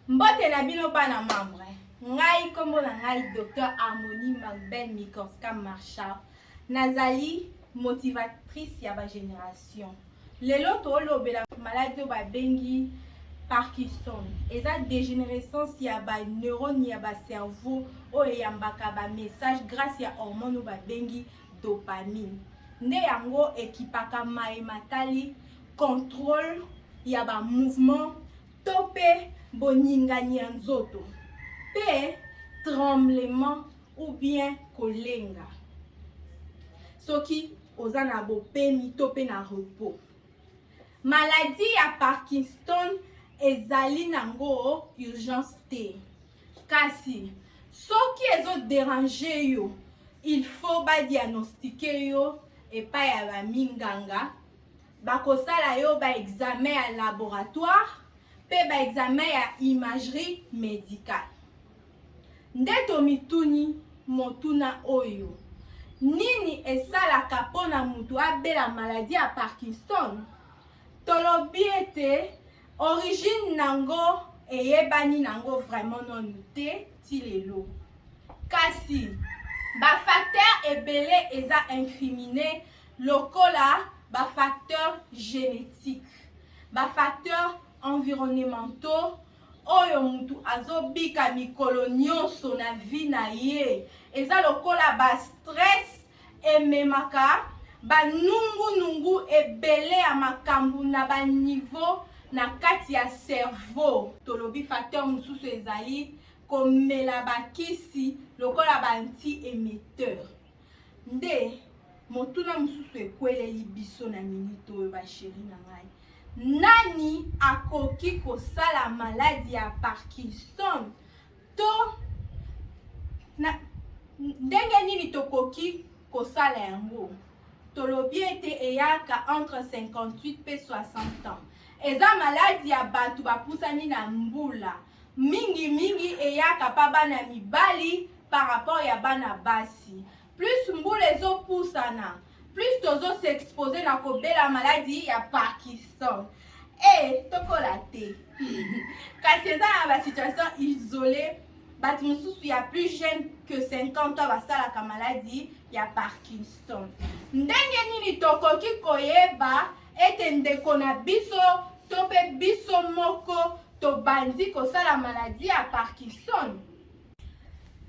Mbote na bino bana membre, ngai nkombo na ngai Dr Harmonie Magbel Mikorska Marshal, nazali motivatrice ya ba generation. lelo tolobela maladi oyo babengi parkinson eza dégénérescence ya baneurone ya bacerveau oyo eyambaka bamessage grâce ya hormone oyo babengi dopamine nde yango ekipaka maye matali contrôle ya bamouvement to mpe boningani ya nzoto mpe tremblement ou bien kolenga soki oza na bopemi to mpe na repos maladi ya parkinson ezali nango urgence te kasi soki ezoderange yo il faut badiagnostike yo epai ya baminganga bakosala yo baexamen ya laboratoire mpe baexamen ya imagerie médicale Nde tomituni motuna oyo, nini esalaka mpo na moto abela maladi ya Parkinson? Tolobi ete origine nango eyebani nango vraiment nonu te ti lelo kasi bafacteur ebele eza incrimine lokola bafacteur génétique bafacteur environnementaux oyo mutu azo bika mikolo nionso na vie na ye eza lokola ba stress ememaka ba nungu nungu ebele ya makambu na ba niveau na kati ya cerveau. Tolobi facteur mususu ezali komela ba kisi lokola ba anti emetteur. Nde motuna mosusu ekweleli biso na minute oyo basheri na ngai nani akoki kosala maladi ya parkinson to na, ndenge nini tokoki kosala yango tolobi ete eyaka entre 58 mpe 60 ans eza maladi ya bato bapusani na mbula Mingi mingi eyaka pa bana mibali par rapport ya bana basi. Plus mbula ezo pusana, plus tozo s'exposer na ko bela maladi ya Parkinson. Eh tokola te. Kasi eza na ba situation isole batu mususu ya plus jeune que 50 ans basalaka maladi ya Parkinson. Ndenge nini tokoki koyeba Ete ndeko na biso to mpe biso moko tobandi kosala maladi ya Parkinson.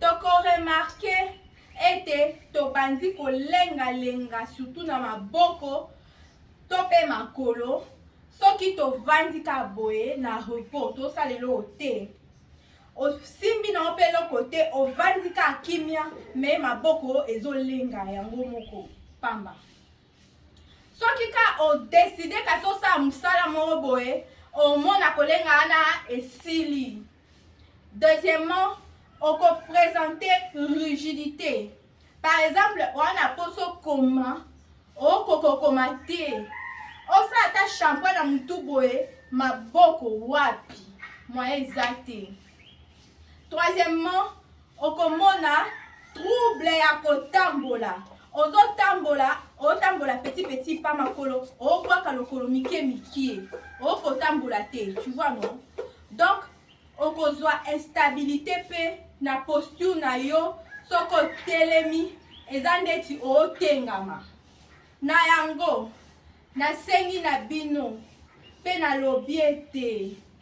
Tokoremarke ete tobandi kolengalenga sutu na maboko to mpe makolo soki tovandi ka boye na repos tosala eloko te osimbi na yo mpe eloko te ovandi ka kimia me maboko ezolenga yango moko pamba soki ka odeside kasi osala mosala moko boye omona kolenga wana esili deuxièmement okopresente rigidité par exemple wana mposo okoma okokokoma te osala ata shampoin na motu boye maboko wapi moyen eza te troisièmement okomona trouble ya kotambola ozotambola otambola petit petit pa makolo obwaka lokolo mike mike okotambola te tu vois non donc okozwa instabilité mpe na posture na yo soki otelemi eza ndeti otengama na yango nasengi na bino mpe nalobi ete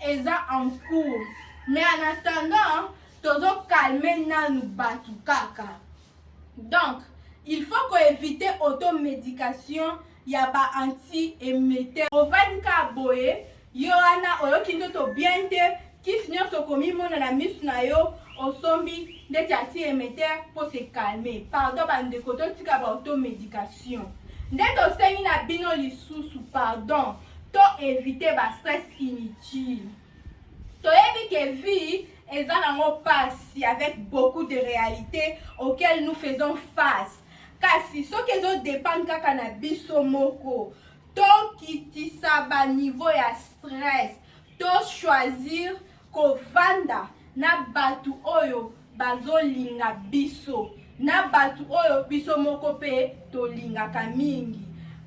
eza en cours mais en attendant tozo calme nanu batu kaka donc il faut ko éviter automedication ya ba anti emetteur ovandi kaka boye yo wana oyoki nzoto bien te kisi nyonso okomimona na misu na yo osombi ndeti anti emetteur mpo se calme pardon bandeko totika ba automedication nde tosengi na bino lisusu pardon To eviter ba stress inutile. Toyebi que vie eza nango pasi avec beaucoup de realites auxquelles nous faisons face. Kasi soki ezo dependre kaka na biso moko, tokitisa ba niveau ya stress, to choisir Kovanda na batu oyo bazo linga biso na batu oyo biso moko pe tolingaka mingi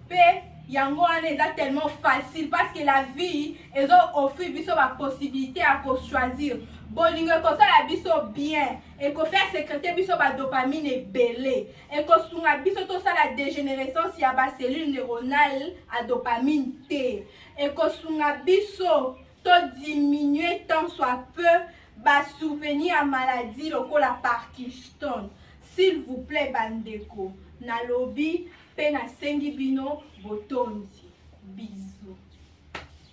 pe yango wana eza tellement facile parce que la vie ezo offrir biso ba possibilité ya ko choisir bolingo ekosala biso bien ekofaire secrete biso ba dopamine ebele ekosunga biso tosala dégénérescence ya ba cellule neuronale a dopamine te ekosunga biso To diminuer tant soit peu ba souvenirs ya maladie lokola Parkinson. S'il vous plait bandeko, nalobi mpe nasengi bino botondi. Bisous.